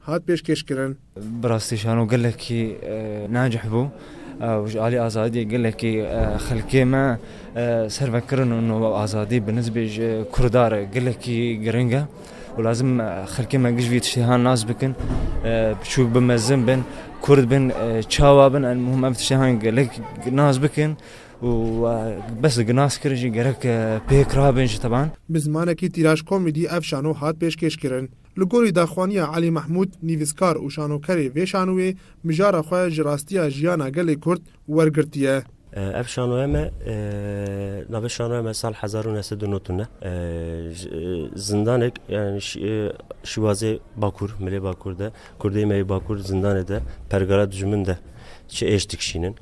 hat pêşkêşkirin. Bi rastî şano gelekî nacîh bû û ji alî azadiyê gelekî xelkê me serve kirin û nava azadî bi nisbê ji kurda re gelekî giring e û lazim e xelkê me giş vî tiştehan nas bikin, biçûk bin, mezin bin, kurd bin, çawa bin elmuhim ev tiştehan gelek nas bikin û bes e nas kirin jî gerek pêk rabin ji tevan. Bi zimanekî tîraj komîdî ev şano hat pêşkêşkirin. Li gorî daxwaniya Elî Mehmûd, nivîskar û şanokerê vê şanoyê mijara xwe ji rastiya jiyana gelê Kurd wergirtiye. Ev şanoya me navê şanoya me sal hezar û neh sed û nod û neh ji zindanek yanî Şîwazê Bakur, Milê Bakur de kurdê me yê Bakur zindanê de pergala dijmin de çi êş dikişînin.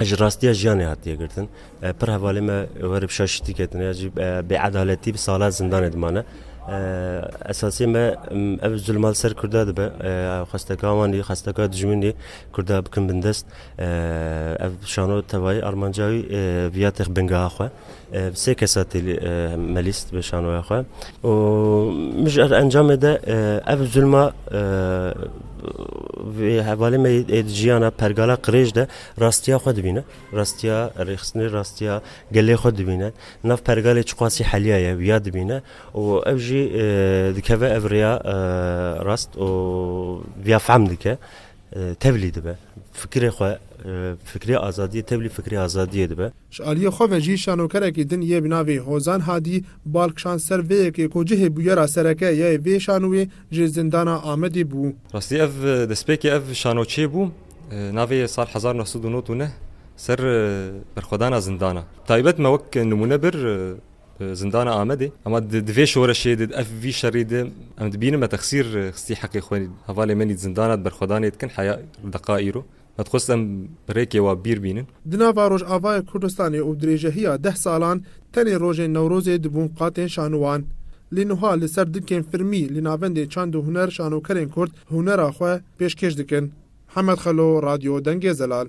ji rastiya jiyanê hatiye girtin. Pir hevalê me were bi şaşitî ketine ya jî bêedaletî bi salan zindanê dimane. Esasê me ev zulma li ser Kurda dibe. Xwesteka wan dî, xwesteka dijmin dî Kurda bikin bindest. Ev şano tevayî armanca wî viya tex bingeha xwe. Sê kesa tê melîst bi şanoya xwe û min ji encamê de ev zulma vê hevalê me yê di jiyana pergala qirêj de rastiya xwe dibîne rastiya rêxistinê rastiya gelê xwe dibîne nav pergalê çiqasî heliya ye wiya dibîne û ev jî dikeve ev rêya rast û viya fehm dike tevlî dibe fikirê xwe fikirê azadiyê tevlî fikirê azadiyê dibe. Ji aliyê xwe ve jî şanokerekî din yê bi navê Hozan Hadî bal kişand ser vê yekê ku cihê bûyera sereke ya yê vê şanoyê ji Zindana Amedê bû. Rastî ev destpêkê ev şano çê bû navê yê sal hezar neh sed û nod û neh ser berxwedana zindana taybet me wek nimûne bir Zindana Amedê ema di vê şoreşê di ev vî şerî di em dibînin me texsîr xistî heqê xwe hevalê me nît zindana di berxwedanê dikin heya deqa îro Me dixwest em bi rêkê wa bîr bînin. Di nava Rojavayê Kurdistanê û dirêjehiya deh salan tenê rojên Newrozê dibûn qatên şanowan. Lê nuha li ser dinkên firmî li navendê çand û huner şanokerên Kurd hunera xwe pêşkêş dikin. Hemed Xelo, Radyo Dengê Zelal.